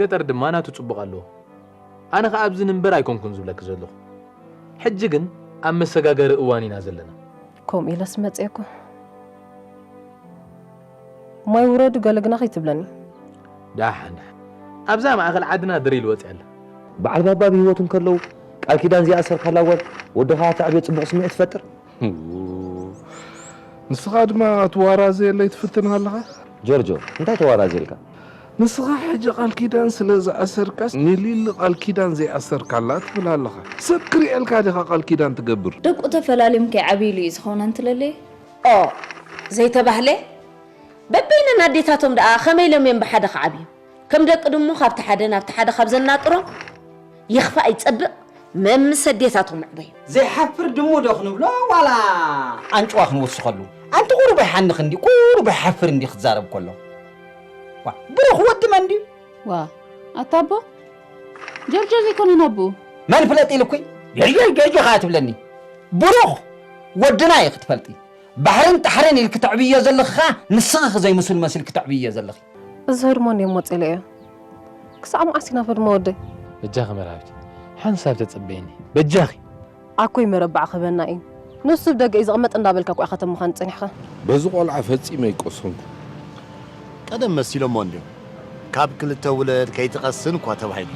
ገጠር ድማ ናቱ ጽቡቕ ኣለዎ። ኣነ ከኣ ኣብዚ ንንበር ኣይኮንኩን ዝብለኪ ዘለኹ። ሕጂ ግን ኣብ መሰጋገሪ እዋን ኢና ዘለና። ከምኡ ኢለስ መጼኩ። ማይ ውረዱ ገለ ግና ከይትብለኒ። ዳሓን ዳሓን ኣብዛ ማእከል ዓድና ድሪል ወጽያ ኣላ። በዓል ባባ ብሂወት እንከለዉ ቃል ኪዳን ዘይኣሰርካላ ጓል ወዲ ከኣ ተዕብዮ ጽቡቅ ስምዒት ትፈጥር። ንስኻ ድማ ትዋራዘየለይ ትፍትን ኣለኻ። ጆርጆ እንታይ ተዋራዝየልካ? ንስኻ ሕጂ ቃል ኪዳን ስለ ዝኣሰርካስ ንሊሊ ቃል ኪዳን ዘይኣሰርካላ ትብል ኣለኻ። ሰብ ክሪኤልካ ዲኻ ቃል ኪዳን ትገብር። ደቁ ተፈላልዮም ከይዓብይሉ እዩ ዝኸውን ኣንትለሌ። ኦ ዘይተባህለ በበይነን ኣዴታቶም ደኣ ከመይ ኢሎም እዮም ብሓደ ክዓብዩ ከም ደቂ ድሙ ካብቲ ሓደ ናብቲ ሓደ ካብ ዘናጥሮም ይኽፋእ ይጸብቕ መምስ ኣዴታቶም ምዕበዩ። ዘይሓፍር ድሙ ዶ ክንብሎ ዋላ ኣንጭዋ ክንውስኸሉ ኣንቲ ቁሩብ ኣይሓንኽ እንድዩ ቁሩብ ኣይሓፍር እንድዩ ክዛረብ ከሎ ዋ ብሩኽ ወዲ መን ድዩ። ዋእ ኣታ ኣቦ ጆርጆ ዘይኮነን ኣቡኡ። መን ፍለጥ ኢሉኩይ ጆርጆ ጆርጆ ከኣ ትብለኒ ቡሩኽ ወድና ኢኺ ትፈልጢ ባሕርን ጣሕርን ኢልኪ ተዕብይዮ ዘለኺ ከኣ ንስኺ ዘይምሱል መሲልኪ ተዕብይዮ ዘለኺ። እዚ ህድሞ እንድዮም ወጺኢለይ እዮ ክሳዕ መዓስ ኢና ህድሞ ወደይ። በጃኺ መርሃዊት ሓንሳብ ተጸበይኒ በጃኺ። ኣኮይ መረባዕ ክህበና ኢዩ ንሱ ብ ደገ ኢዩ ዝቅመጥ እንዳ በልካ እኮ ኢካ ከም ምካኑ ጸኒሕካ። በዚ ቆልዓ ፈጺመ ኣይቀሰንኩን። ቀደም መሲሎሞ እንድዮም ካብ ክልተ ውለድ ከይትቀስን እኳ ተባሂሉ።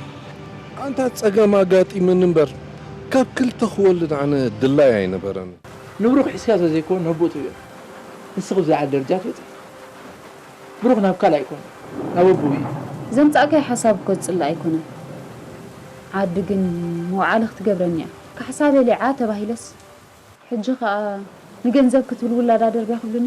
ኣንታ ጸገም ኣጋጢሙኒ እምበር ካብ ክልተ ክወልድ ኣነ ድላይ ኣይነበረንን። ንብሩኽ ሒዝካ ዘዘይኮ ነቡእ ትብዮ ንስኺ ብዝልዓለ ደርጃ ትበጺሒ። ብሩኽ ናብ ካልኣይ ኮነ ናብ ኣቡኡ እዩ። ዘምጻእካዮ ሓሳብ እኮ ዝጽላእ ኣይኮነን ዓዲ ግን መውዓሊ ክትገብረኒ እያ። ካሕሳ በሊዓ ተባሂለስ ሕጂ ከኣ ንገንዘብ ክትብል ውላዳ ደርብያ ክብሉኒ።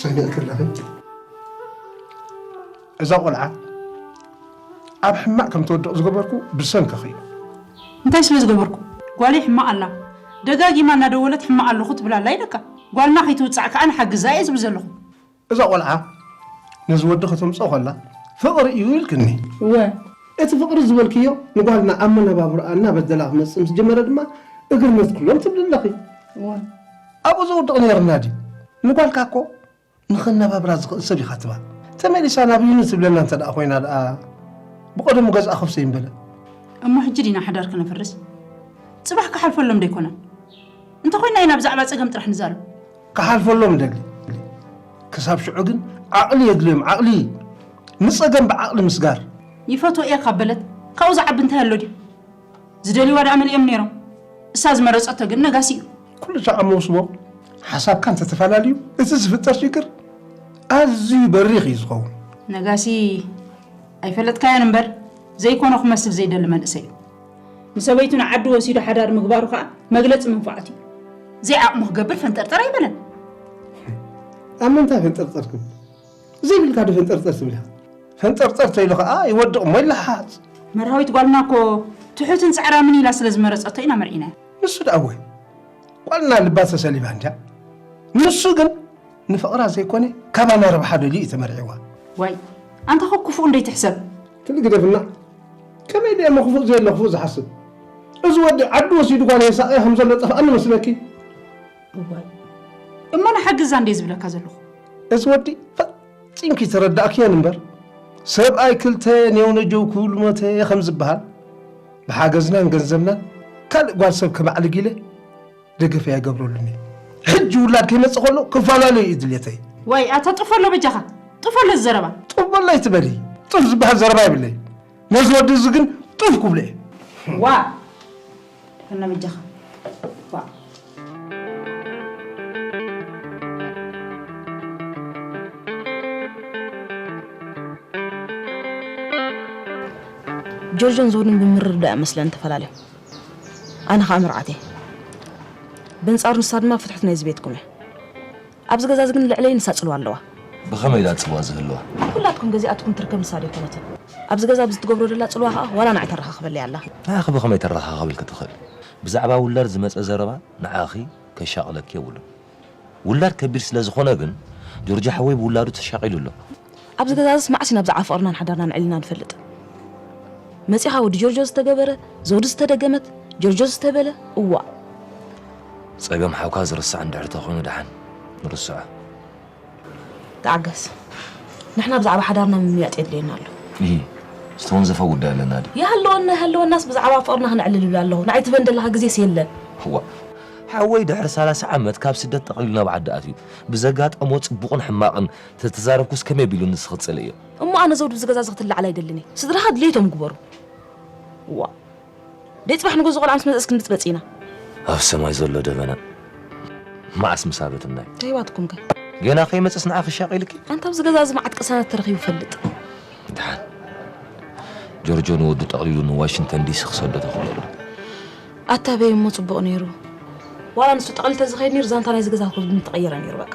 ሰሚዕኪ ኣለኺ እዛ ቆልዓ ኣብ ሕማቅ ከም ትወድቕ ዝገበርኩ ብሰንክኺ እዩ እንታይ ስለ ዝገበርኩ ጓለይ ሕማቅ ኣላ ደጋጊማ እናደወለት ሕማቅ ኣለኹ ትብል ኣላ ኢለካ ጓልና ከይትውፃዕ ከዓ ንሓግዛ እየ ዝብል ዘለኹ እዛ ቆልዓ ነዚ ወዲ ከተምጽኦ ከላ ፍቕሪ እዩ ኢልክኒ። እወ፣ እቲ ፍቕሪ ዝበልክዮ ንጓልና ኣብ መነባብሮኣ እናበደላ ክመጽእ ምስ ጀመረ ድማ እግርነት ኩሎም ትብሊ ኣለኺ። እወ። ኣብኡ ዘውድቕ ነይርና ድዩ? ንጓልካ እኮ ንኸነባብራ ዝኽእል ሰብ ኢኻ ትባ። ተመሊሳ ናብዩኒ ትብለና እንተ ደኣ ኮይና ደኣ ብቐደሙ ገዝኣ ከፍሰይ ምበለ። እሞ ሕጂ ዲና ሓዳር ክነፍርስ? ጽባሕ ክሓልፈሎም ዶ ኣይኮነን? እንተ ኮይና ኢና ብዛዕባ ጸገም ጥራሕ ንዛረብ። ክሓልፈሎም ይደሊ ክሳብ ሽዑ ግን ዓቕሊ የድልዮም ዓቕሊ ንጸገም ብዓቕሊ ምስጋር። ይፈትዎ እየ ካብ በለት ካብኡ ዝዓቢ እንታይ ኣሎ ድዩ? ዝደልይዋ ደኣ መሊኦም ነይሮም። እሳ ዝመረጸቶ ግን ነጋሲ እዩ። ኩሉ ሻዕ ኣብ መውስቦ ሓሳብካ እንተተፈላለዩ እቲ ዝፍጠር ሽግር ኣዝዩ በሪኽ እዩ ዝኸውን። ነጋሲ ኣይፈለጥካዮን እምበር ዘይኮኖ ክመስል ዘይደሊ መንእሰይ እዩ። ንሰበይቱ ንዓዲ ወሲዱ ሓዳር ምግባሩ ከዓ መግለፂ መንፋዓት እዩ። ዘይዓቕሙ ክገብር ፈንጠርጠር ኣይበለን። ኣብ ምንታይ ፈንጠርጠር ክብል ዘይብልካ ዶ ፈንጠርጠር ትብል ኢኻ? ፈንጠርጠር ተይሉ ከዓ ይወድቕ እሞ ይለሓሓፅ። መርሃዊት ጓልና እኮ ትሑትን ፃዕራምን ኢላ ስለ ዝመረፀቶ ኢና መርዒናያ። ንሱ ደኣ እወ ጓልና ልባ ተሰሊባ እንድያ። ንሱ ግን ንፍቕራ ዘይኮነ ካባና ረብሓ ደልዩ እዩ ተመርዒዋ። ዋይ ኣንታ እኮ ክፉእ እንደይትሕሰብ። ትል ግደፍና ከመይ ድየ እሞ ክፉእ ዘየለ ክፉእ ዝሓስብ? እዚ ወዲ ዓዱ ወሲዱ ጓል የሳቕያ ከም ዘሎ ጠፍኣኒ መስለኪ? እዋይ እሞ ንሓግዛ እንድየ ዝብለካ ዘለኹ። እዚ ወዲ ፈጺምኪ ተረዳእክዮን እምበር ሰብኣይ ክልተ ኔውነጀው ክብሉ ሞተ ከም ዝበሃል ብሓገዝናን ገንዘብናን ካልእ ጓል ሰብ ከማዕልግ ኢለ ደገፈይ ኣይገብረሉን እዩ ሕጂ ውላድ ከይመፅእ ከሎ ክፈላለዩ እዩ ድሌተይ ዋይ ኣታ ጥፈሎ በጃኻ ጥፈሎ እዚ ዘረባ ጥበላ ኣይትበሊ ጥፍ ዝበሃል ዘረባ ይብለይ ነዚ ወዲ እዚ ግን ጥፍ ክብሎ እየ ዋ እና በጃኻ ዋ ጆርጆን ዞንን ብምርድዳእ እያ መስለን ተፈላለዩ ኣነ ኸኣ መርዓት እየ። በንጻሩ ንሳ ድማ ፍትሑት ናይዚ ቤትኩም እያ። ኣብዚ ገዛዚ ግን ልዕለይ ንሳ ጽልዋ ኣለዋ። ብኸመይ ኢላ ጽልዋ ዝህልዋ? ንኹላትኩም ገዚኣትኩም ትርከብ ንሳ ዶ ኣይኮነትን? ኣብዚ ገዛ ብዝትገብሮ ደላ ጽልዋ ኸኣ ዋላ ንዓይ ተረኻኽበለይ ኣላ። ንዓኺ ብኸመይ ተረኻኽበልኪ ትኽእል? ብዛዕባ ውላድ ዝመጸ ዘረባ ንዓኺ ከሻቕለኪ የብሉን። ውላድ ከቢድ ስለ ዝኾነ ግን ጆርጆ ሓወይ ብውላዱ ተሻቒሉ ኣሎ። ኣብዚ ገዛዝስ መዓስ ኢና ብዛዕባ ፍቕርናን ሓዳርናን ኣዕሊልና ንፈልጥ? መጺኻ ወዲ ጆርጆ ዝተገበረ፣ ዘውዲ ዝተደገመት፣ ጆርጆ ዝተበለ፣ እዋእ! ጸገም ሓውካ ዝርሳዕ እንድሕር ተኾይኑ ደሓን ንርስዖ። ተዓገስ ንሕና ብዛዕባ ሓዳርና ምምይያጥ የድልየና ኣሎ። ኢሂ ዝተወንዘፈ ጉዳይ ኣለና ድዩ? ይሃልወና ኣይሃልወናስ ብዛዕባ ፍቕርና ክነዕልል ይብል ኣለኹ። ንዓይ ትበንደለኻ ግዜስ የለን። ዋእ! ሓወይ ድሕሪ ሰላሳ ዓመት ካብ ስደት ጠቕሊሉ ናብ ዓዲ ኣትዩ ብዘጋጠሞ ጽቡቕን ሕማቕን ተተዛረብኩስ ከመይ ኣቢሉ ንስ ክጽልእ ኢዩ? እሞ ኣነ ዘውዲ እዚ ገዛ እዚ ክትላዓል ኣይደልን ኢየ። ስድራኻ ድሌቶም ግበሩ። ዋእ! ደይ ጽባሕ ንጉሆ እዚ ቆልዓ ምስ መጸስ ክንብጽበጽ ኢና። ኣብ ሰማይ ዘሎ ደበና መዓስ ምስ ኣበትናዩ። ደይ ዋትኩም ከ? ገና ከይመጸስ ንዓኺ ሻቕ ኢልኪ? ኣንታ ኣብዚ ገዛ እዚ መዓት ቅሳነት ተረኺቡ ይፈልጥ። ድሓን ጆርጆ ንወዱ ጠቕሊሉ ንዋሽንተን ዲሲ ክሰዶ ተኽእሎ'ሎ። ኣታ በይ እሞ ጽቡቕ ነይሩ። ዋላ ንሱ ጠቕሊሉ ተዝኸይድ ነይሩ ዛንታ ናይዚ ገዛ ኮብልል ምተቐየረ ነይሩ በቃ።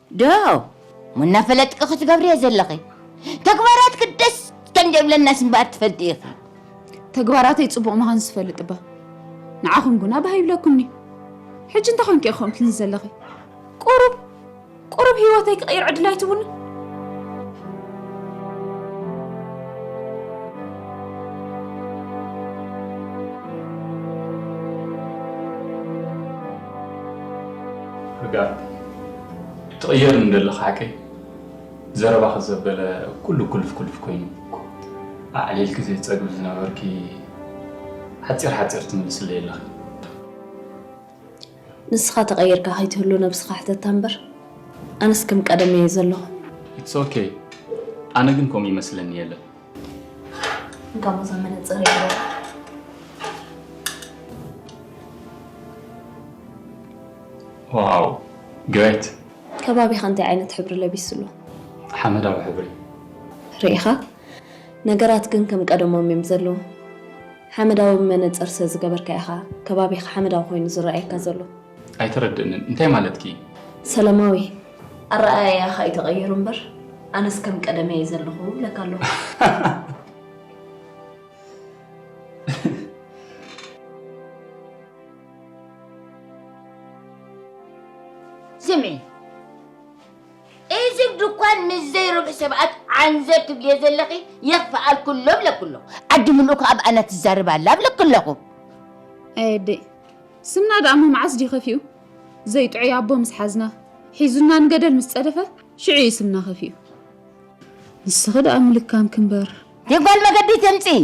ዶ እሞ እናፈለጥኪ ክትገብርዮ ዘለኺ ተግባራትኪ ደስ ከምዘይብለናስ እምበኣር ትፈልጢ ኢኺ። ተግባራተይ ጽቡቕ ምዃንስ ዝፈልጥ እባ ንዓኹም ጉና ባህ ይብለኩምኒ። ሕጂ እንታይ ኮንኪ ኢኺ ከምኡ ትብልኒ ዘለኺ? ቁሩብ ቁሩብ ህይወተይ ክቕይር ዕድል ኣይትቡኒ? ህግኣት ትቕየርኒ ደለኻ ሓቀይ ዘረባኺ ዘበለ ኩሉ ኩልፍ ኩልፍ ኮይኑ ኣዕሊልኪ ዘይፀግብ ዝነበርኪ ሓፂር ሓፂር ትምልስለይ ኣለኺ ንስኻ ተቐይርካ ከይትህሉ ነብስኻ ሕተታ እምበር ኣነስ ከም ቀደመ እየ ዘለኹ ኢትስ ኦኬ ኣነ ግን ከምኡ ይመስለኒ የለን ጋሞ ዘመነ ጽር ዋው ግሬት ከባቢኻ እንታይ ዓይነት ሕብሪ ለቢሱ ኣሎ? ሓመዳዊ ሕብሪ ርኢኻ ነገራት ግን ከም ቀደሞም እዮም ዘለዉ። ሓመዳዊ መነጽር ስለ ዝገበርካ ኢኻ ከባቢኻ ሓመዳዊ ኮይኑ ዝረኣየካ ዘሎ። ኣይተረድእንን እንታይ ማለትኪ እዩ? ሰለማዊ ኣረኣእያኻ እዩ ተቐይሩ እምበር ኣነስ ከም ቀደመ እየ ዘለኹ እብለካ ኣለኹ። ስሚ እዚ ድኳን ምስ ዘይርብሑ ሰባት ዓንዘር ትብልዮ ዘለኺ የኽፍኣልኩሎ ብለኩ ኣለኹ ዓዲ ምልኡ ከዓ ብኣና ትዛረብ ኣላ ብለኩ ኣለኹ ኣየደይ ስምና ደኣ መዓስ ድዩ ከፊኡ ዘይጥዑይ ኣቦ ምስ ሓዝና፣ ሒዙና ንገደል ምስ ጸደፈ፣ ሽዑ እዩ ስምና ከፊኡ። ንስኺ ደኣ ምልካምኪ እምበር። ደይ ጓል መገዲ ተምጽኢ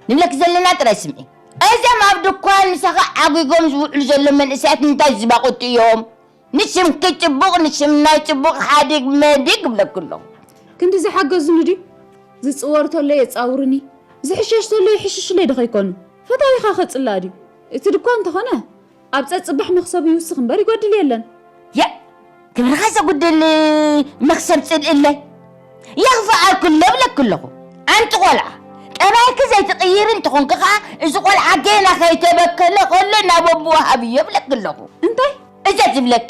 ንብለኪ ዘለና ጥራይ ስምዒ። እዞም ኣብ ድኳን ምሳኺ ዓጒጎም ዝውዕሉ ዘለዉ መንእሰያት እንታይ ዝባቑቲ እዮም? ንሽምኪ ጽቡቕ ንሽም ናይ ጽቡቕ ሓዲግ መዲግ እብለኪ ኣለኹ። ክንዲ ዝሓገዙኒ ድዩ? ዝጽወር ተሎ የጻውሩኒ፣ ዝሕሸሽ ተሎ ይሕሽሹለይ ዶ ከይኮኑ? ፈታዊኻ ከጽልኣ ድዩ? እቲ ድኳን እንተኾነ ኣብ ጸጽባሕ መኽሰብ ይውስኽ እምበር ይጎድል የለን። የእ ክብርኻ ዘጉድል መኽሰብ ጽልእለይ የኽፍኣልኩሎ እብለኪ ኣለኹ። ኣንቲ ቆልዓ ጠባይኪ ዘይትቕይሪ እንተኾንኪ ከኣ እዚ ቆልዓ ጌና ከይተበከለ ከሎ ናብ ኣቡኡ ሃብዮ እብለኪ ኣለኹ። እንታይ? እዘዝ እብለኪ።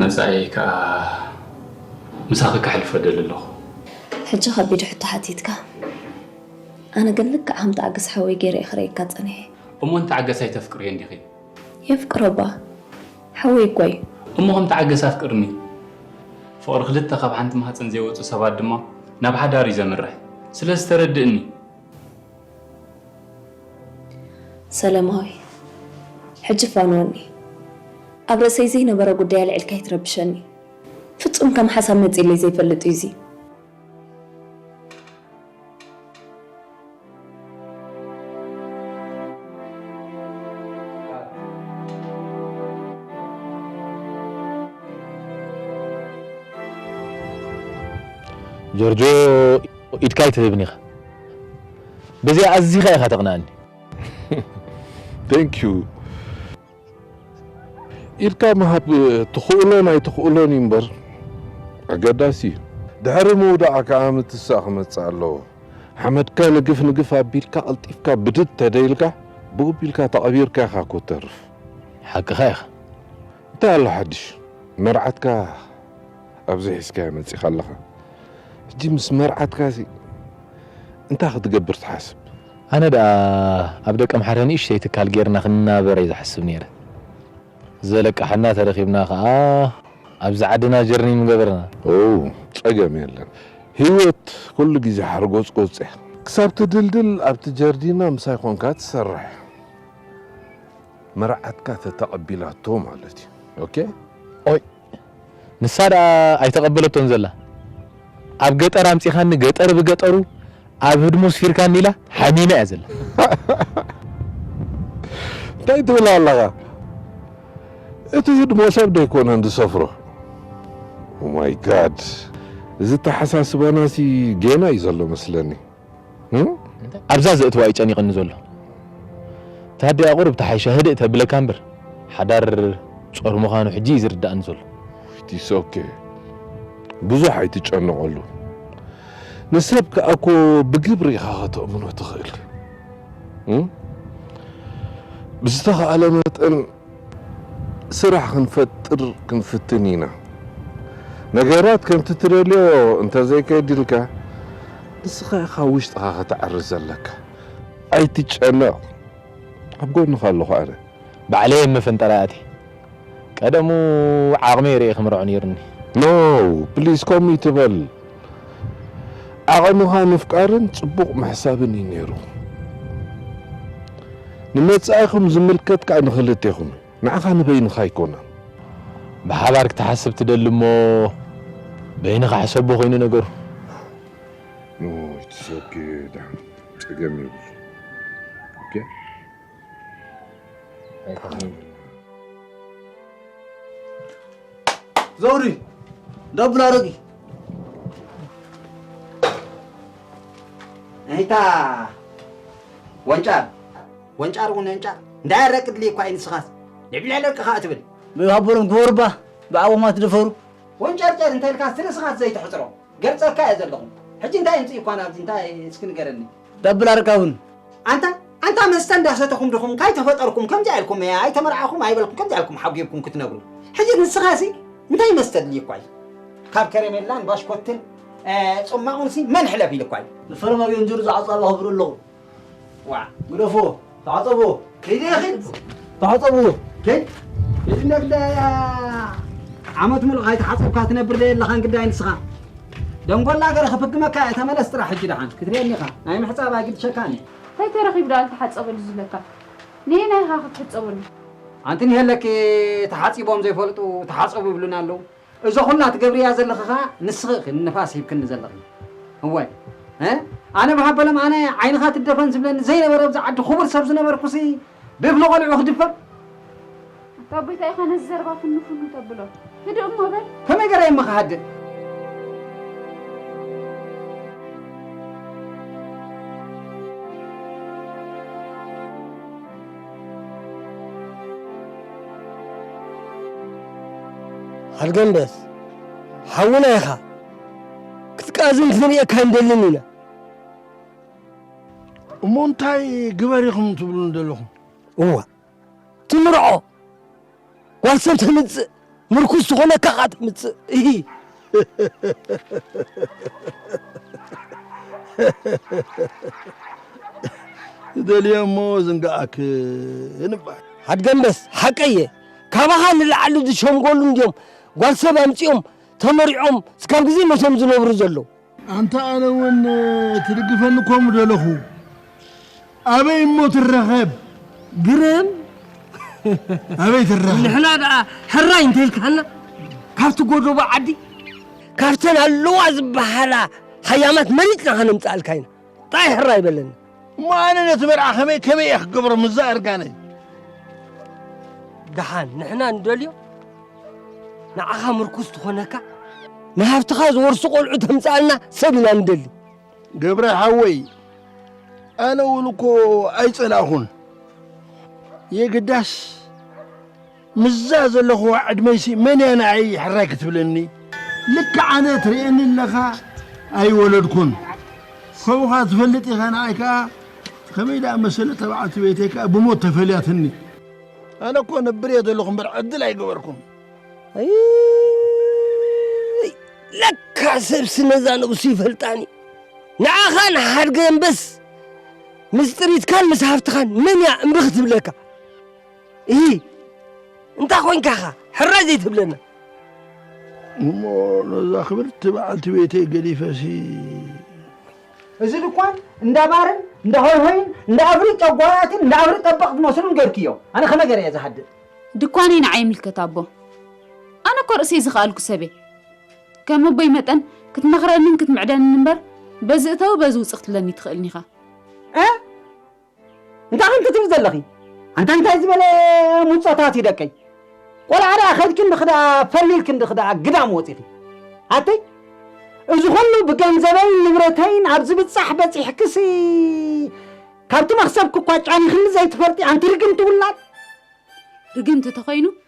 መጻኢ ከኣ ምሳኺ ከሕልፎ እደሊ ኣለኹ። ሕጂ ከቢድ ሕቶ ሓቲትካ። ኣነ ግን ልክዕ ከም ተዓገስ ሓወይ ገይረ እየ ክርእየካ ጸኒሐ። እሞ ንተዓገስ ኣይተፍቅርዮን ዲኺ? የፍቅሮ እባ ሓወይ እኳ እዩ። እሞ ከም ተዓገስ ኣፍቅርኒ። ፍቕሪ ክልተ ካብ ሓንቲ ማህጸን ዘይወጹ ሰባት ድማ ናብ ሓዳር እዩ ዘምርሕ። ስለዚ ተረድእኒ። ሰለማዊ ሕጂ ፋኖኒ ኣብ ርእሰይ ዘይነበረ ጉዳይ ኣልዒልካ ኣይትረብሸኒ ፍጹም ከም ሓሳብ መጺለይ ዘይፈልጥ እዩ እዚ ጆርጆ ኢድካ ኣይትህብን ኢኻ በዚኣ ኣዚኻ ኢኻ ተቕንኣኒ። Thank you ኢድካ ምሃብ ትኽእሎን ኣይትኽእሎን እዩ እምበር ኣገዳሲ እዩ። ድሕሪ ምውዳኣ ከኣ ምትሳእ ክመጽእ ኣለዎ። ሓመድካ ንግፍ ንግፍ ኣቢልካ ቀልጢፍካ ብድድ ተደይልካ ብኡቢልካ ተቐቢርካ ኢኻ እኮ እተርፍ። ሓቅኻ ኢኻ። እንታይ ኣሎ ሓድሽ መርዓትካ ኣብዚ ሒዝካያ መጺኻ ኣለኻ ሕጂ ምስ መርዓትካሲ እንታይ ክትገብር ትሓስብ? ኣነ ደኣ ኣብ ደቀምሓረ ንእሽተይ ትካል ጌርና ክንናበር እየ ዝሓስብ ኔረ ዘለቃሓና ተረኪብና ከኣ ኣብዚ ዓድና ጀርኒ ምገበርና። ኦው ጸገም የለን ሂወት ኩሉ ግዜ ሓርጎጽጎጽ እያ ክሳብ ትድልድል ኣብቲ ጀርዲና ምሳይ ኮንካ ትሰርሕ። መርዓትካ ተተቐቢላቶ ማለት እዩ ኦኬ። ኦይ ንሳ ደኣ ኣይተቀበለቶን ዘላ ኣብ ገጠር ኣምጺኻኒ ገጠር ብገጠሩ ኣብ ህድሞ ኣስፊርካኒ ኢላ ሓሚማ እያ ዘላ። እንታይ ትብል ኣለኻ እቲ ህድሞ ሰብ ዶ ኣይኮነን ዝሰፍሮ ኦማይ ጋድ እዚ ኣተሓሳስባናሲ ጌና እዩ ዘሎ መስለኒ። ኣብዛ ዘእትዋ እዩ ጨኒቕኒ ዘሎ ታዲያ ቁሩብ ተሓይሻ ህድእ ተብለካ እምበር ሓዳር ጾር ምዃኑ ሕጂ እዩ ዝርድኣኒ ዘሎ። ኢትስ ኦኬ ብዙሕ ኣይትጨነቐሉ ንሰብ ከኣ እኮ ብግብሪ ኢኻ ከተእምኖ ትኽእል ብዝተኻእለ መጠን ስራሕ ክንፈጥር ክንፍትን ኢና። ነገራት ከምቲ ትደልዮ እንተዘይከይድ ኢልካ ንስኻ ኢኻ ውሽጥኻ ከተዕሪ ዘለካ። ኣይትጨነቕ ኣብ ጎንኻ ኣለኹ ኣነ። ባዕለይ ኣብ መፈንጠራይ ኣትየ። ቀደሙ ዓቕመይ ሪኤ ክምርዖ ነይሩኒ። ኖው ፕሊስ ከምኡ ኣይትበል። ዓቐንኻ ምፍቃርን ጽቡቕ ምሕሳብን እዩ ነይሩ። ንመጻኢኹም ዝምልከት ከኣ ንኽልቴኹም እዩ፣ ንዓኻ ንበይንኻ ኣይኮነን። ብሓባር ክትሓስብ ትደሊ እሞ በይንኻ ሕሰቦ ኮይኑ ነገሩ። ጸገም የብሉን። ዘውሪ ደብላ ረጊ ናይታ ወንጫር ወንጫር እውን ወንጫር እንዳያረቅ ድልየ እኳ እዩ ንስኻስ ልዕብልዕ ደቂ ከዓ ትብል ብባቡርም ክበሩባ ብዓቦማ ትደፈሩ ወንጨርጨር እንተ ኢልካ ስርስኻት ዘይትሕፅሮ ገልፀካ እየ ዘለኹ ሕጂ እንታይ ይምፅእ እኳ ናብዚ እንታይ እስኪ ንገረኒ ደብል ኣረጋውን። ኣንታ ኣንታ መስተ እንዳሰተኹም ድኹም ካይ ተፈጠርኩም ከምዚኣ ኢልኩም እያ ኣይተመርዓኹም ኣይበልኩም ከምዚኣ ኢልኩም ሓጊርኩም ክትነብሩ ሕጂ ንስኻ ሲ እንታይ መስተ ኣድልዩኳ እዩ ካብ ከረሜላን ባሽኮትን ጽማቑን ሲ መን ሕለፍ ኢልኳ እዩ ንፈረማዊ እንጅሩ ዝዓጻሉ ኣኽብሩ ኣለኹም ዋዕ ግደፍዎ ታዕፀቦ ከይደ ይኽድ ታዕፀቦ ከይድ ከይድ እንዳ ግዳ ዓመት ሙሉእ ካይተሓፀብካ ትነብር ዘየለኻን ግዳይ ንስኻ ደንጎላ ገረ ክፍግመካ እየ ተመለስ ጥራሕ ሕጂ ደሓን ክትሪአኒ ኢኻ ናይ ምሕፃብ ኣይግድሸካን እዩ እንታይ ተረኺቡ ደኣ ተሓፀበሉ ዝብለካ ነየናይ ኢኻ ክትሕፀበሉ ኣንቲ ንሄለኪ ተሓፂቦም ዘይፈልጡ ተሓፀቡ ይብሉና ኣለዉ እዞ ኩላ ትገብርያ ዘለኺ ከኣ ንስኺ ኢኺ ንንፋስ ሂብክኒ ዘለኺ እወ እ ኣነ ብሃበሎም ኣነ ዓይንኻ ትደፈን ዝብለኒ ዘይነበረ ኣብዚ ዓዲ ክቡር ሰብ ዝነበርኩሲ ብእፍሊ ቆልዑ ክድፈር ኣታ ጎይታይ ኢኻ ነዚ ዘረባ ፍኑ ፍኑ ተብሎ ህድእ እሞ በል ከመይ ገረ እሞ ክሃድእ ኣልገንደስ ሓውና ኢኻ ክትቃዝን ክንርእየካ ንደልን ኢና እሞ እንታይ ግበር ኢኹም ትብሉ ዘለኹም እዋ ትምርዖ ጓል ሰብ ተምጽእ ምርኩስ ዝኾነካ ኸኣ ተምጽእ እሂ ትደልዮ እሞ ዝንጋኣክ እንባል ኣድገምበስ ሓቀየ ካባኻ ንላዕሊ ዝሸምጎሉ እንድዮም ጓል ሰብ ኣምጺኦም ተመሪዖም እስካብ ግዜ መቶም ዝነብሩ ዘለዉ ኣንታ ኣነ ውን ትድግፈኒ እኮ ምደለኹ ኣበይ እሞ ትረኸብ ግረም ኣበይ ትረኸብ ንሕና ደኣ ሕራይ እንተልካና ካብቲ ጎደቦ ዓዲ ካብተን ኣለዋ ዝበሃላ ሃያማት መሪፅና ከነምፅኣልካ ኢና ጣይ ሕራይ በለና እሞ ኣነ ነቲ መርዓ ከመይ ከመይ እየ ክገብሮ ምዛ እርጋነይ ደሓን ንሕና ንደልዮ ንዓኻ ምርኩስ ትኾነካ ንሃብትኻ ዝወርሱ ቆልዑ ተምፃኣልና ሰብ ኢና ንደሊ ገብረ ሓወይ ኣነ እውን እኮ ኣይፀላእኹን የግዳስ ምስዛ ዘለኹዋ ዕድመይሲ መን እያ ንዓይ ሕራይ ክትብለኒ? ልክዕ ኣነ ትርእየኒ ኣለኻ ኣይወለድኩን ከምኡኻ ትፈልጥ ኢኻ ንዓይ ከኣ ከመይ ደኣ መሰለ እታ በዓልቲ ቤተይ ከኣ ብሞት ተፈልያትኒ ኣነ እኮ ነብር እየ ዘለኹ እምበር ዕድል ኣይገበርኩን ለካ ሰብሲ ነዛ ነብሱ ይፈልጣኒ ንዓኻን ሓድገ እምበስ ምስ ጥሪትካን ምስ ሃፍትኻን መን እያ እምቢ ክትብለካ እሂ እንታይ ኮንካ ኻ ሕራይ ዘይትብለና እሞ ነዛ ክብርቲ በዓልቲ ቤተይ ገዲፈሲ እዚ ድኳን እንዳ ባርን እንዳ ሆይሆይን እንዳ እግሪ ጨጓራትን እንዳ እግሪ ጠበቕ ዝመስሉን ገርክዮ ኣነ ከመይ ገረ እየ ዝሃድእ ድኳነይ ንዓይ ይምልከት ኣቦ ኣነ እኮ ርእሰይ ዝኸኣልኩ ሰብ እየ ከም ኣቦይ መጠን ክትመኽረንን ክትምዕደንን እምበር በዚ እተዊ በዚ ውፅ ክትብለኒ ትኽእልኒ ኢኻ እንታይ ከም ክትብሊ ዘለኺ ኣንታ እንታይ ዝበለ ሙጾታት እዩ ደቀይ ቆልዓ ደኣ ከድኪ እንድኺ ደኣ ፈሊልኪ እንድኺ ደኣ ግዳም ወፂኺ ኣተይ እዚ ኩሉ ብገንዘበይን ንብረተይን ኣብ ዝብጻሕ በጺሕክሲ ካብቲ መኽሰብኪ እኳ ጫኒኽኒ ዘይትፈልጢ ኣንቲ ርግምቲ ውላድ ርግምቲ ተኾይኑ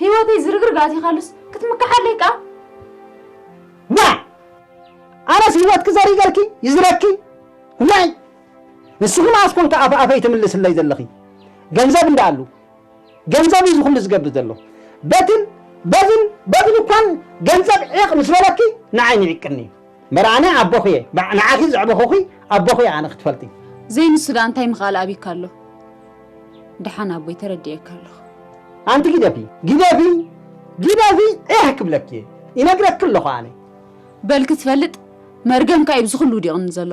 ህይወተይ ዝርግርግ ኣቲኻሉስ ክትምክሓለይ ከኣ ዋይ ኣነስ ህይወትኪ ዘሪገልኪ ይዝረኪ ዋይ ንስኺ መኣስ ኮንኪ ኣፍ ኣፈይ ትምልስለይ ዘለኺ ገንዘብ እንዳኣሉ ገንዘብ እዩ ዝኹሉ ዝገብር ዘሎ በትን በዝን በዝን እኳን ገንዘብ ዒቕ ምስ በለኪ ንዓይ ንዒቅኒ እዩ እምበር ኣነ ኣቦኺ እየ ንዓኺ ዘዕበኹኺ ኣቦኺ እየ ኣነ ክትፈልጢ። ዘይንሱ ድኣ እንታይ ምኽኣል ኣቢካ ኣሎ ድሓን ኣቦይ ተረዲኤካ ኣለኹ። ኣንቲ ጊደፊ ጊደፊ ጊደፊ ዒሕ ክብለኪ እየ ይነግረኪ ኣለኹ ኣነ። በል ክትፈልጥ መርገምካ እዩ ብዝኹሉ ውዲቕኒ ዘሎ።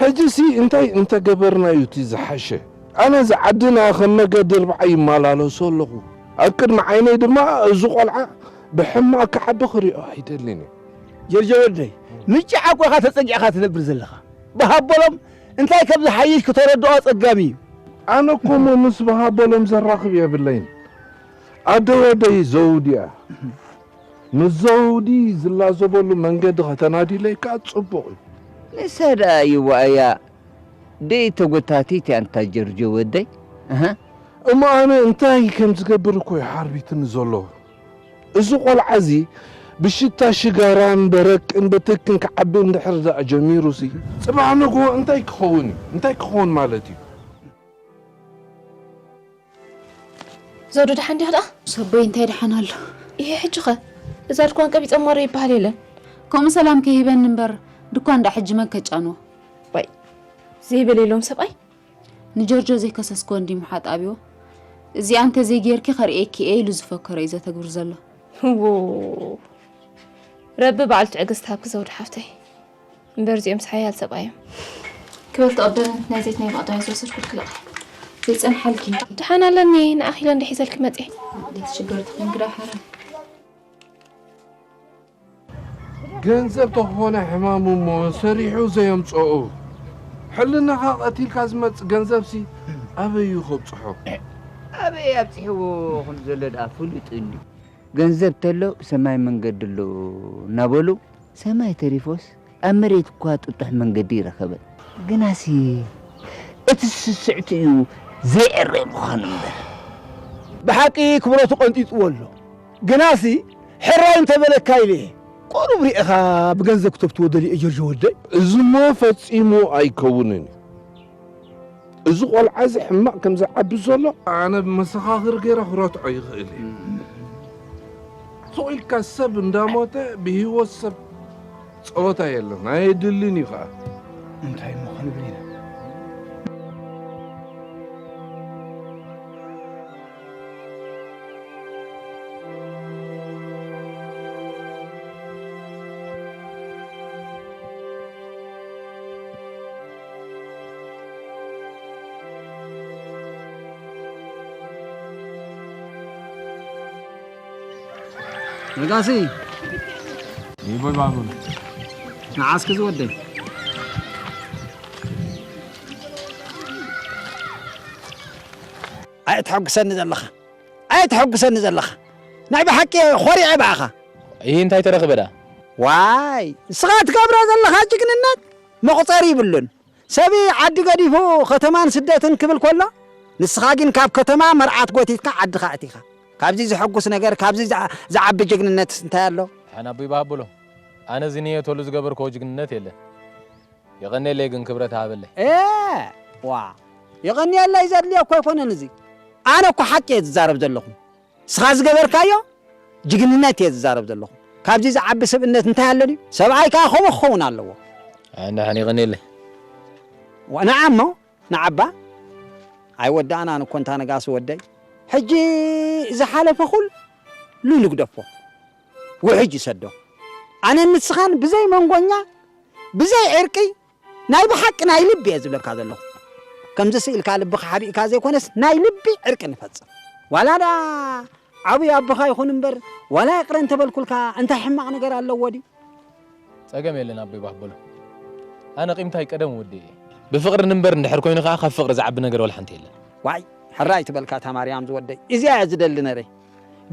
ሕጂሲ እንታይ እንተገበርና'ዩ እቲ ዝሓሸ? ኣነ እዚ ዓድና ከም መገዲ ርብዓ ይመላለሶ ኣለኹ። ኣብ ቅድሚ ዓይነይ ድማ እዚ ቆልዓ ብሕማቕ ክዓቢ ክሪኦ ኣይደልን እየ። ጀርጆ ወደይ ንጭ ዓቊ ኢኻ ተጸጊዕካ ትነብር ዘለኻ። ብሃቦሎም እንታይ ከም ዝሓይሽ ክተረድኦ ኣጸጋሚ እዩ። ኣነ እኮ እሞ ምስ ብሃቦሎም ዘራኽብ የብለይን። ኣደ ወደይ ዘውዲ'ያ። ምስ ዘውዲ ዝላዘበሉ መንገዲ ከተናድይለይ ከኣ ጽቡቕ እዩ። ንሳ ደኣ ይዋእያ ደይ ተጎታቲት ኣንታ ጀርጆ ወደይ ኣሃ። እሞ ኣነ እንታይ ከም ዝገብር እኮ እዩ ሓርቢትኒ ዘሎ። እዚ ቆልዓ እዚ ብሽታ ሽጋራን በረቅን በተክን ክዓቢ እንድሕር ደኣ ጀሚሩሲ ጽባሕ ንግሆ እንታይ ክኸውን እዩ? እንታይ ክኸውን ማለት እዩ? ዘውዱ ደሓን ዲኻ ደኣ? ሰቦይ እንታይ ደሓን ኣሎ ይሄ ሕጂኸ እዛ ድኳን ቀቢጸ ማረ ይበሃል የለን ከምኡ ሰላም ከይህበኒ እምበር ድኳን እንዳ ሕጂ መን ከጫንዎ ባይ ዘይበለ ኢሎም ሰብኣይ ንጆርጆ ዘይከሰስክዎ እንዲ ምሓጥ ኣብዎ እዚኣ እንተዘይ ጌርኪ ከርእየኪ እየ ኢሉ ዝፈከሮ እዩ ዘተግብር ዘሎ ረቢ በዓል ትዕግስቲ ሃብኪ ዘውዱ ሓፍተይ እምበር እዚኦምስ ሓያል ሰብኣይ እዮም ክበርቲ ቀደም ናይ ዘይት ናይ ባቕዳያ ዝወሰድኩልክለቕ ዘይፀንሓልኪ ድሓን ኣለኒ ንኣኺለ እንደ ሒዘልኪ መፀ ትሽገርቲ ኮን ግዳ ሓረ ገንዘብ ተኾነ ሕማሙ እሞ ሰሪሑ ዘየምፀኡ ሕልናኻ ቀቲልካ ዝመፅ ገንዘብሲ ኣበይ እዩ ከብፅሖ ኣበይ ኣብፅሕዎ ከም ዘሎ ድኣ ፍሉጥ እዩ ገንዘብ ተሎ ሰማይ መንገዲ ኣሎ እናበሉ ሰማይ ተሪፎስ ኣብ መሬት እኳ ጥጡሕ መንገዲ ኣይረኸበን። ግናሲ እቲ ስስዕትኡ ዘይዕረ ምዃኑ እምበር። ብሓቂ ክብረቱ ቀንጢጥዎ ኣሎ። ግናሲ ሕራይ እንተ በለካ ኢለ እየ። ቁሩብ ርኤኻ ብገንዘብ ክተፍትዎ ደልየ እየ ጆርጆ ወደይ። እዚሞ ፈጺሙ ኣይከውንን እዩ። እዚ ቆልዓ እዚ ሕማቕ ከም ዝዓቢ ዘሎ ኣነ መሰኻኽር ገይረ ክረትዖ ይኽእል እየ ሱቕ ኢልካ ሰብ እንዳሞተ ብሂወት ሰብ ፀወታ የለን ኣየድልን እዩ ከዓ እንታይ እሞ ክንብል ኢና ነጋሲ ይቦይ ባቡር ንዓስኪ ዝወደይ ኣየተሐጉሰኒ ዘለኻ ኣየተሐጉሰኒ ዘለኻ ናይ ብሓቂ ኾሪዐ ብኣኻ ይህ እንታይ ተረኽበ ደኣ ዋይ ንስኻ ትገብሮ ዘለኻ ጅግንነት መቑጸሪ ይብሉን። ሰብ ዓዲ ገዲፉ ከተማን ስደትን ክብል ከሎ ንስኻ ግን ካብ ከተማ መርዓት ጎቲትካ ዓድኻ ኣእቲኻ። ካብዚ ዘሐጉስ ነገር ካብዚ ዝዓቢ ጅግንነትስ እንታይ ኣሎ? ደሓን ኣቦይ ብሃብሎ ኣነ እዚ ንየተሉ ዝገበርክዎ ጅግንነት የለን የቐንየለይ ግን ክብረት ሃበለይ። ኤህ ዋእ የቐንየለይ ዘድልዮ እኮ ኣይኮነን እዚ ኣነ እኮ ሓቂ እየ ዝዛረብ ዘለኹ። ንስኻ ዝገበርካዮ ጅግንነት እየ ዝዛረብ ዘለኹ። ካብዚ ዝዓቢ ስብእነት እንታይ ኣሎ ድዩ? ሰብኣይ ከኣ ከምኡ ክኸውን ኣለዎ። ኣነ ኣሕኒቕኒለ። ንዓ እሞ ንዓባ ኣይወዳእናን እኮ እንታ ነጋሲ ወደይ። ሕጂ ዝሓለፈ ኩሉ ንግደፎ፣ ውሕጅ ይሰዶ። ኣነን ንስኻን ብዘይ መንጎኛ፣ ብዘይ ዕርቂ፣ ናይ ብሓቂ ናይ ልቢ እየ ዝብለካ ዘለኹ ከምዚ ስኢልካ ልብኻ ሓቢእካ ዘይኮነስ ናይ ልቢ ዕርቂ ንፈጽም ዋላ ድኣ ዓቡይ ኣቦኻ ይኹን እምበር ዋላ ይቕረ እንተበልኩልካ እንታይ ሕማቕ ነገር ኣለዎ ድዩ ጸገም የለን ኣቦይ ባህ በሎ ኣነ ቂምታይ ቀደም ወዲ እየ። ብፍቅሪ ንንበር እንድሕር ኮይኑ ከኣ ካብ ፍቅሪ ዝዓቢ ነገር ወላ ሓንቲ የለን። ዋይ ሕራይ ትበልካ ታማርያም ዝወደይ እዚኣ እያ ዝደሊ ነረ።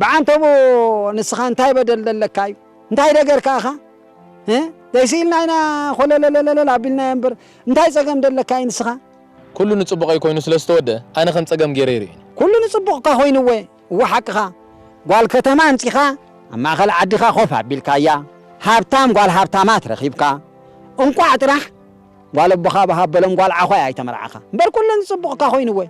ብዓንተቦ ንስኻ እንታይ በደል ደለካ እዩ እንታይ ደገር ከኣ እኻ እ ዘይስኢልና ኢና ኾለለለለለል ኣቢልናዮ እምበር እንታይ ጸገም ደለካ እዩ ንስኻ። ኩሉ ንጽቡቀይ ኮይኑ ስለ ዝተወደኣ ኣነ ከም ጸገም ጌረ ይርእይኒ። ኩሉ ንጽቡቅካ ኮይኑ እወ እወ ሓቅኻ ጓል ከተማ ኣምጺኻ ኣብ ማእኸል ዓድኻ ኮፍ ኣቢልካያ ሃብታም ጓል ሃብታማት ረኺብካ እንቋዕ ጥራሕ ጓል ኣቦኻ ብሃበሎም ጓል ዓዃይ ኣይተመርዓኻ እምበር ኩሉ ንጽቡቅካ ኮይኑ እወ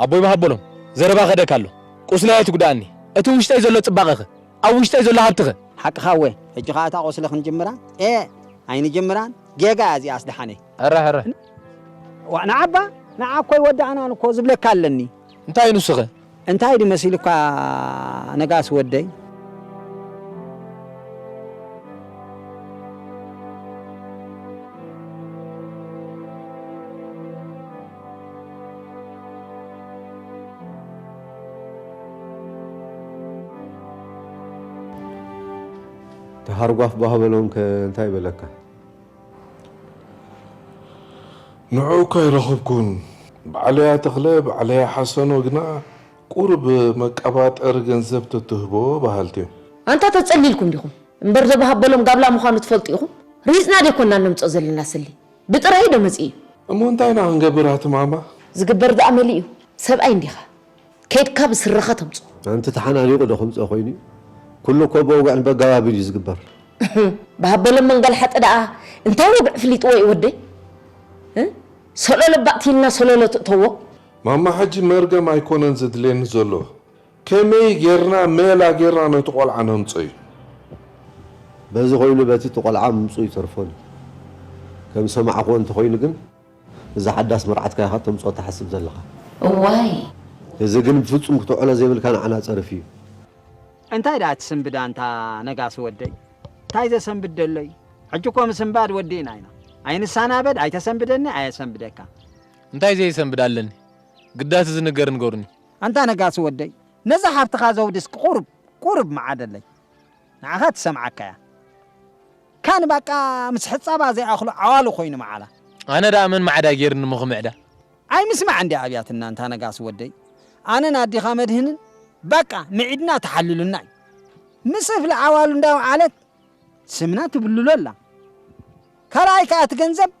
ኣቦይ ብሃቦሎም ዘረባ ከደካ ኣሎ ቁስለይ ኣይትጉዳኣኒ እቲ ውሽጠይ ዘሎ ጽባቀኸ ኣብ ውሽጠይ ዘሎ ሃብትኸ። ሓቅኻ እወ ሕጂ ከኣ እታ ቁስሊ ክንጅምራ ኤእ ኣይንጅምራን ጌጋ እያ እዚኣስ ደሓነይ። እረ እረ። ዋእ ንዓባ ንዓ እኮ ኣይወዳእናን እኮ ዝብለካ ኣለኒ። እንታይ ንሱኸ? እንታይ ድዩ መሲሉካ ነጋሲ ወደይ? ሃርጓፍ ባህ በሎም ከ እንታይ በለካ? ንዕኡ እኳ ኣይረኸብኩን። በዓለያ ተኽለ፣ በዓለያ ሓሰኖ ግና ቁሩብ መቀባጠሪ ገንዘብ ተትህቦ በሃልቲ እዮም። ኣንታ ተጸሊልኩም ዲኹም እምበር ዘበሃበሎም ጋብላ ምዃኑ ትፈልጡ ኢኹም? ርሂጽና ደይኮንና እነምጽኦ ዘለና ስሊ። ብጥራይ ዶ መጺኡ እዩ። እሞ እንታይ ኢና ክንገብር ኣቲ ማማ። ዝግበር ድኣ መሊኡ ሰብኣይ እንዲኻ ከይድካ ብስረኻ ተምጽኦ። ኣንቲ ተሓናኒቁ ዶ ክምጾ ኮይኑ እዩ ኩሉ እኮ ብወግዕን በጋባብን እዩ ዝግበር። ብሃበሎም መንገልሓጢ ደኣ እንታይ ወግዒ ፍሊጥዎ እዩ ወደይ እ ሰሎሎ ባእቲ ኢልና ሰሎሎ ትእተዎ። ማማ ሕጂ መርገም ኣይኮነን ዘድልየኒ ዘሎ ከመይ ጌርና ሜላ ጌርና ነቲ ቆልዓ ነምጾ'ዩ። በዚ ኮይኑ በቲ እቲ ቆልዓ ምምጽኡ ይተርፎን እዩ። ከም ዝሰማዕክዎ እንተኾይኑ ግን እዛ ሓዳስ መርዓትካ ኢኻ ተምጽኦ ትሓስብ ዘለኻ። እዋይ! እዚ ግን ብፍጹም ክተውዕሎ ዘይብልካ ንዓና ጸርፊ እዩ። እንታይ ደኣ ትስንብድ ኣንታ ነጋሲ ወደይ? እንታይ ዘሰንብድ ደሎ'ዩ? ሕጂ እኮ ምስንባድ ወዲእና ኢና። ኣይንሳናበድ፣ ኣይተሰንብደኒ፣ ኣየሰንብደካ። እንታይ ዘይሰንብድ ኣለኒ? ግዳ እቲ ዝንገር ንገሩኒ። ኣንታ ነጋሲ ወደይ ነዛ ሓፍትኻ ዘውዲስክ ቁሩብ ቁሩብ ምዓደለይ ንዓኻ ትሰምዓካ እያ ካን ባቃ ምስ ሕጻባ ዘይኣኽሉ ዓዋሉ ኮይኑ ምዓላ። ኣነ ደኣ መን ማዕዳ ጌርኒ እሞ ክምዕዳ። ኣይ ምስማዕ እንድያ ኣብያትና ኣንታ ነጋሲ ወደይ ኣነን ኣዲኻ መድህንን ባቃ ምዒድና ተሓልሉና እዩ ምስ እፍሊ ዓዋሉ እንዳውዓለት ስምና ትብልሎ ኣላ ካልኣይ ከኣ እቲ ገንዘብ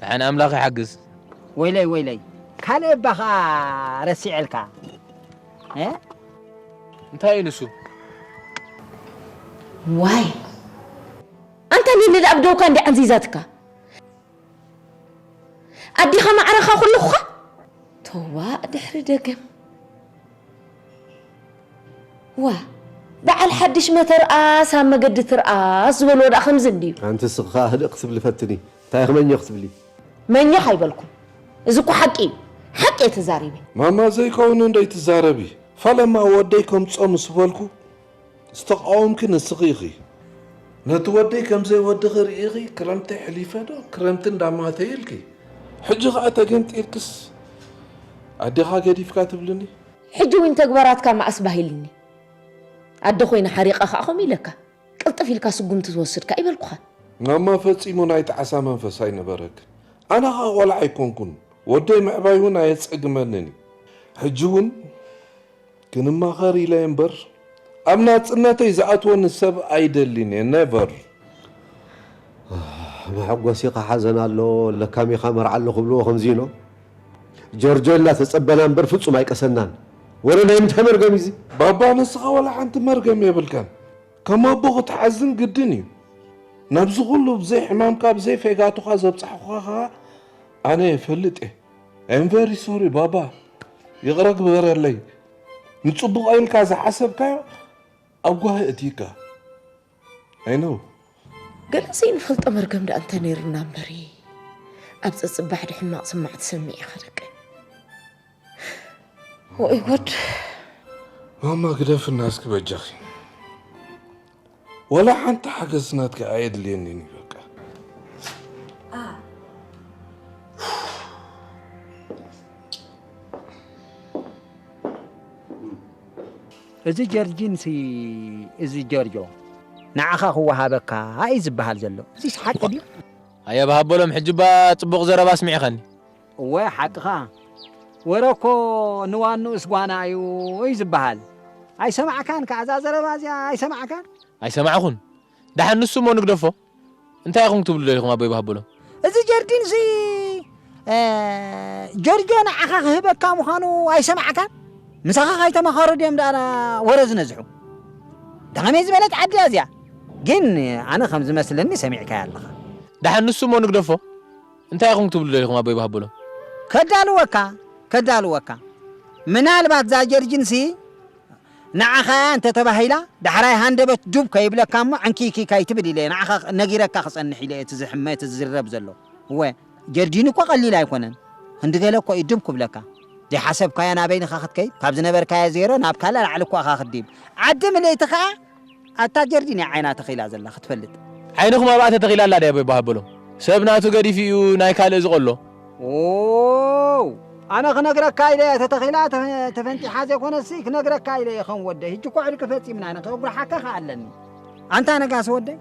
ድሓን ኣምላኽ ይሓግዝ። ወይለይ ወይለይ ካልእ እባ ከኣ ረሲዐልካ እ። እንታይ እዩ ንሱ? ዋይ ኣንታ ሊሊ ኣብ ደውካ እንድያ ዓንዚዛትካ ኣዴኻ ማዕረኻ ኩልኹኻ። ቶባእ ድሕሪ ደገም። ዋእ በዓል ሓድሽ መተርኣስ ኣብ መገዲ ትርኣስ ዝበልዎ ደኣ ከምዚ እንድዩ። ኣንቲ ንስኺ ከኣ ህድእ ክትብሊ ፈትኒ። እንታይ ኢኺ መኘኽ ትብሊ? መኘኽ ኣይበልኩን። እዚ እኮ ሓቂ እዩ። ሓቂ እየ ተዛሪበ። ማማ ዘይከውን እንዶ ኣይትዛረቢ ፈለማ ወደይ ከምጾ ምስ በልኩ። ዝተቃወምኪ ንስኺ ኢኺ። ነቲ ወደይ ከም ዘይወድኺ ርኢኺ ክረምቲ ሐሊፈ ዶ ክረምቲ እንዳማተ ኢልኪ ሕጂ ከኣ ተገንጢልክስ ኣዴኻ ገዲፍካ ትብልኒ። ሕጂ ውን ተግባራትካ መኣስ ባህ ኢልኒ ኣደ ኮይነ ሓሪቀ ከኣ ከምኡ ኢለካ ቅልጥፍ ኢልካ ስጉምቲ ትወስድ ከኣ ኣይበልኩኻን። ማማ ፈጺሙ ናይ ጣዕሳ መንፈስ ኣይነበረክን ኣነ ከኣ ቆልዓ ኣይኮንኩን ወደይ ምዕባይ ውን ኣየጸግመንን ኢዩ ሕጂ ውን። ክንማኸር ኢለ እምበር ኣብ ናጽነተይ ዝኣትወኒ ሰብ ኣይደሊን እየ never። መሐጎሲካ ሓዘን ኣሎ ለካሚካ መርዓ ኣሎ ክብልዎ ከምዚ ኢኖ ጀርጆ ኢልና ተጸበና እምበር ፍጹም ኣይቀሰናን ወረ ናይ ምንታይ መርገም እዩ እዚ። ባባ ንስኻ ዋላ ሓንቲ መርገም የብልካን ከም ኣቦ ክትሓዝን ግድን እዩ ናብዚ ኩሉ ብዘይ ሕማምካ ብዘይ ፌጋቱኻ ዘብጻሕኩኻ ከኣ ኣነ የፈልጥ እየ። ኣም ቨሪ ሶሪ ባባ ይቕረ ግበረለይ ንጽቡቕ ኢልካ ዝሓሰብካዮ ኣብ ጓሂ እትይካ ኣይነው ገለ ዘይንፈልጦ መርገም ደኣ እንተ ነይሩና እምበሪ ኣብ ፀፅባሕ ዶ ሕማቕ ስማዕ ትሰሚዕ ኢኻ ደቂ ወይ ጉድ ማማ ግደፍና እስኪ በጃኺ ወላ ሓንቲ ሓገዝ ናትካ ኣየድልየንን እዩ በቃ እዚ ጀርጂንሲ እዚ ጆርጆ ንዓኻ ክወሃበካ እዩ ዝበሃል ዘሎ እዚስ ሓቂ ድዩ ኣየብሃበሎም ሕጂ እባ ጽቡቕ ዘረባ ኣስሚዕኸኒ እወ ሓቅኻ ወረ እኮ ንዋንኡስ ጓና እዩ እዩ ዝበሃል ኣይሰማዕካን ከኣ እዛ ዘረባ እዚኣ ኣይሰማዕካን? ኣይሰማዕኹን ደሓን ንሱ እሞ ንግደፎ እንታይ ኢኹም ክትብሉ ደሊኹም ኣቦይ በሃበሎም። እዚ ጀርዲን እዚ ጆርጆ ንዓኻ ክህበካ ምዃኑ ኣይሰማዕካን? ምሳኻ ከይተማኸሩ ድዮም ደኣ ወረ ዝነዝሑ? እንተ ከመይ ዝበለት ዓዲ እያ እዚኣ ግን ኣነ ከም ዝመስለኒ ሰሚዕካያ ኣለኻ። ደሓን ንሱ እሞ ንግደፎ። እንታይ ኢኹም ክትብሉ ደሊኹም ኣቦይ በሃበሎም? ከዳልወካ ከዳልወካ ምናልባት እዛ ጀርጂን ሲ ንዓኻ እያ እንተ ተባሂላ ዳሕራይ ሃንደበት ዱብ ከይብለካ እሞ ዕንኪይኪይ ከይትብል ኢለ እየ ንዓኻ ነጊረካ ክጸንሕ ኢለ እየ እቲ ዝሕመ እቲ ዝዝረብ ዘሎ እወ ጀርጂን እኮ ቀሊል ኣይኮነን ክንዲ ገለ እኮ እዩ ዱብ ክብለካ ዘይሓሰብካዮ ናበይን ኢኻ ክትከይድ ካብ ዝነበርካዮ ዜሮ ናብ ካልእ ላዕሊ እኮ ኢኻ ክትድይብ ዓዲ ምልእቲ ከኣ ኣታ ጀርዲን እያ ዓይና ተኺላ ዘላ ክትፈልጥ። ዓይንኹም ኣብኣ ተተኺላ ኣላ ድያ ይብሃል በሎም። ሰብ ናቱ ገዲፉ እዩ ናይ ካልእ ዝቆሎ። ዎው ኣነ ክነግረካ ኢለ ተተኺላ ተፈንጢሓ ዘይኮነሲ ክነግረካ ኢለ ይኸን ወደይ ሕጂ እኮ ዕርቂ ፈጺምና ኢና ከጉርሓካ ከ ኣለኒ ኣንታ ነጋሲ ወደይ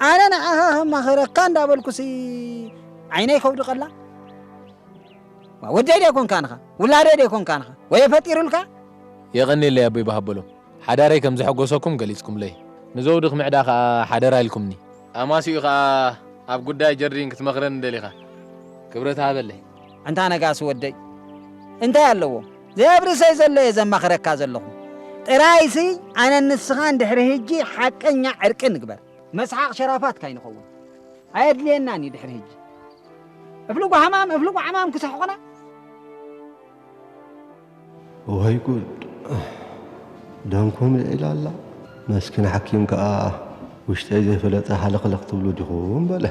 ኣነ ንዓኻ ከማኸረካ እንዳበልኩሲ ዓይነይ ከውድቀላ ወደይ ደይኮንካንኻ ውላደይ ደይኮንካንኻ ወየ ፈጢሩልካ የቐኒለይ ኣቦይ በሃበሎም ሓዳረይ ከም ዘሐጐሰኩም ገሊጽኩምለይ። ንዘውዲ ክምዕዳ ከኣ ሓደራ ኢልኩምኒ። ኣማስይኡ ከኣ ኣብ ጕዳይ ጀርዲን ክትመኽረኒ ደሊኻ ክብረት ሃበለይ። ኣንታ ነጋሲ ወደይ፣ እንታይ ኣለዎ ዘየብርሰይ ዘሎ እየ ዘማኽረካ ዘለኹ። ጥራይሲ ኣነን ንስኻን ድሕሪ ህጂ ሓቀኛ ዕርቂ ንግበር። መስሓቕ ሸራፋት ካይንኸውን ኣየድልየናን እዩ ድሕሪ ህጂ። እፍልጉ ሓማም እፍልጉ ዓማም ክሰሕቑና። እዋይ ጉድ ደምኩም ልዒላ ኣላ መስኪን ሓኪም ከኣ ውሽጠይ ዘይፈለጠ ሃለኽለኽ ትብሉ ዲኹም በለ።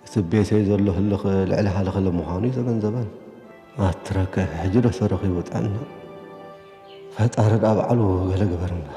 እቲ ብ ቤተይ ዘሎ ህልኽ ልዕሊ ሃለኽለ ምዃኑ እዩ ዘገንዘበን። ኣትረከ ሕጂ ዶ ተረኺቡ ጥዕና ፈጣሪ ድኣ ባዕሉ ገለ ግበር እምበር።